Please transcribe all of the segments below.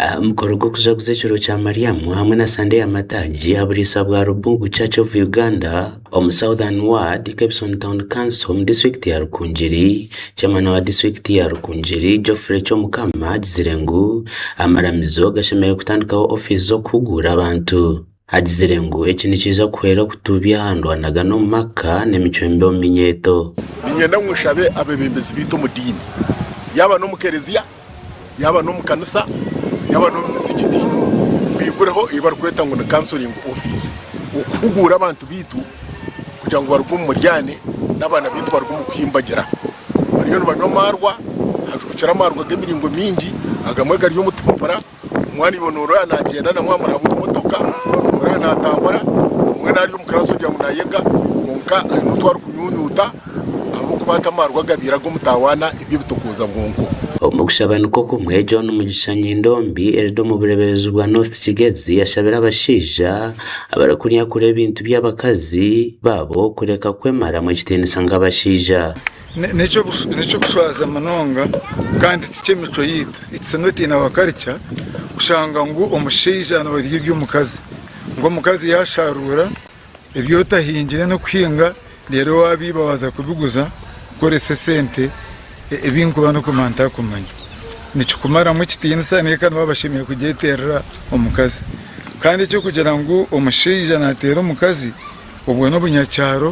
Aha mukoro gw'okujaguza ekiro kya Mariamu hamwe na Sande ya Mataagi aha buriisa bwa Rubungu Church of Uganda omu Southern Ward, Kebson Town Council omu disiturikiti ya Rukungiri, Chairman wa disiturikiti ya Rukungiri Geoffrey Kyomukama agizire ngu amaramizo gashemereire kutandikaho ofiisi z'okuhuguura abantu. Agizire ngu eki nikiija kuhwera kutuubya aha ndwanagana omu maka n'emicwe mibi omu minyeeto. Niinyenda ngu nshabe abeebembezi baitu omu diini, yaaba n'omu Kerezia, yaaba n'omu kanisa, yaaba n'omu mizigiti, baigureho ei barikweta ngu ni counselling office, okuhuguura abantu baitu kugira ngu baruge omu muryaane n'abaana baitu baruge omu kuhimbagira bariyo nibanywa amaarwa, hajwekire amaarwa g'emiringo mingi, agamwe gari omu tupapura. Omwana iwe noreeba nagyenda na mwamara omu motoka noreeba natambura mbwenu ari omu class ogira ngu nayega kwonka aine otu arikunyunyuta ahabw'okuba ati amarwa agabaire ag'omutawana eby'ebitokooza bwonko. Omu kushaba nikwo kumwe John Mugisha Nyindombi eriri omu bureberezi bwa North Kigezi yashabire abashaija abarikunyakura ebintu by'abakazi baabo kureka kwemaramu ekitiinisa nk'abashaija. N'eky'okushwaza munonga kandi ti ky'emicwe yaitu, it's not in our culture, kushanga ngu omushaija norya eby'omukazi. Ngu omukazi yasharuura ebi otahingire n'okuhinga reero wabiiba waza kubiguza kukoresa esente ebi nkuba n'okuguma ntarikumanya. Nikikumaramu ekitiinisa nahi ka nibo abashemereire kugyeterera omukazi. Kandi eky'okugira ngu omushaija nateera omukazi obwo n'obunyakyaro.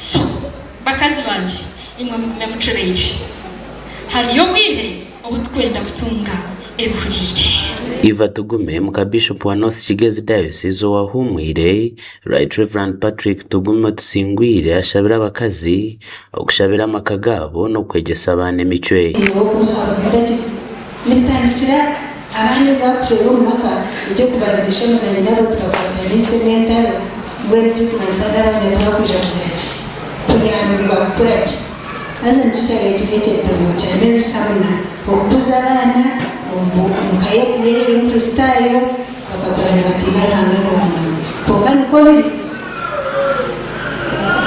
So, bakazi bangye, imwe mugume mucureire. Hariyo obwire obu turikwenda kutunga ebihuriire. Iva Tugume, muka Bishop wa North Kigezi Diocese owahumwire, Right Rev. Patrick Tugume Otusingwire ashabire abakazi okushabira amaka gaabo n'okwegyesa abaana emicwe. Nibitandikira abaana ebi baakuhwera omu maka nikyo kubanza eishe-emwe na nyina-abo tibakwataniise n'entaro, mbwenu ekirikumanyisa ngu abaana tibakwija kugira ki? Kuyambibwa kukura ki? Haza nikyo kyabire kiri ekyetorooro kya Mary Sumner, okukuza abaana omu ka y'ekubire eri Enkristaayo, bakakura nibatiina Ruhanga nibamwenda. Kwonka nikwo biri?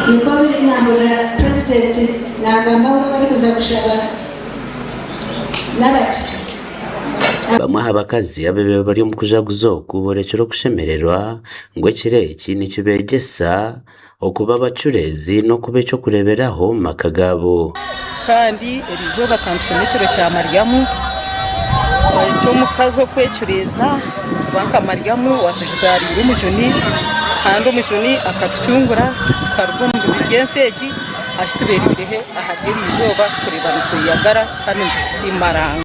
Nikwo biri? Naahurira Purezidenti naagamba ngu abarikuza kushaba. n'abakye. Bamwe aha bakazi abaibaire bari omu kujaguza oku boorekire okushemererwa ngu ekiro eki nikibeegyesa okuba abacureezi n'okuba eky'okureeberaho omu maka gaabo. Kandi eri izooba ka nitushome ekiro kya Mariamu eky'omukazi okwecureeza kuba nka Mariamu waatuzaariire omujuni, kandi omujuni akatucungura tukaruga omu bibi by'ensi egi. ashi tubeereire he ahari eryo izooba kureeba nitweyagara kandi nitusiima Ruhanga.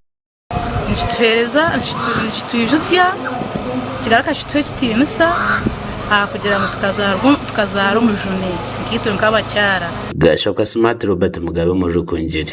Nikitwijutsya nikigaruka kituha ekitiinisa ahakugira ngu tukazaara omujuni nkaitwe nk'abakyara. Gaashoka Smart Robert Mugabe Omuri Rukungiri.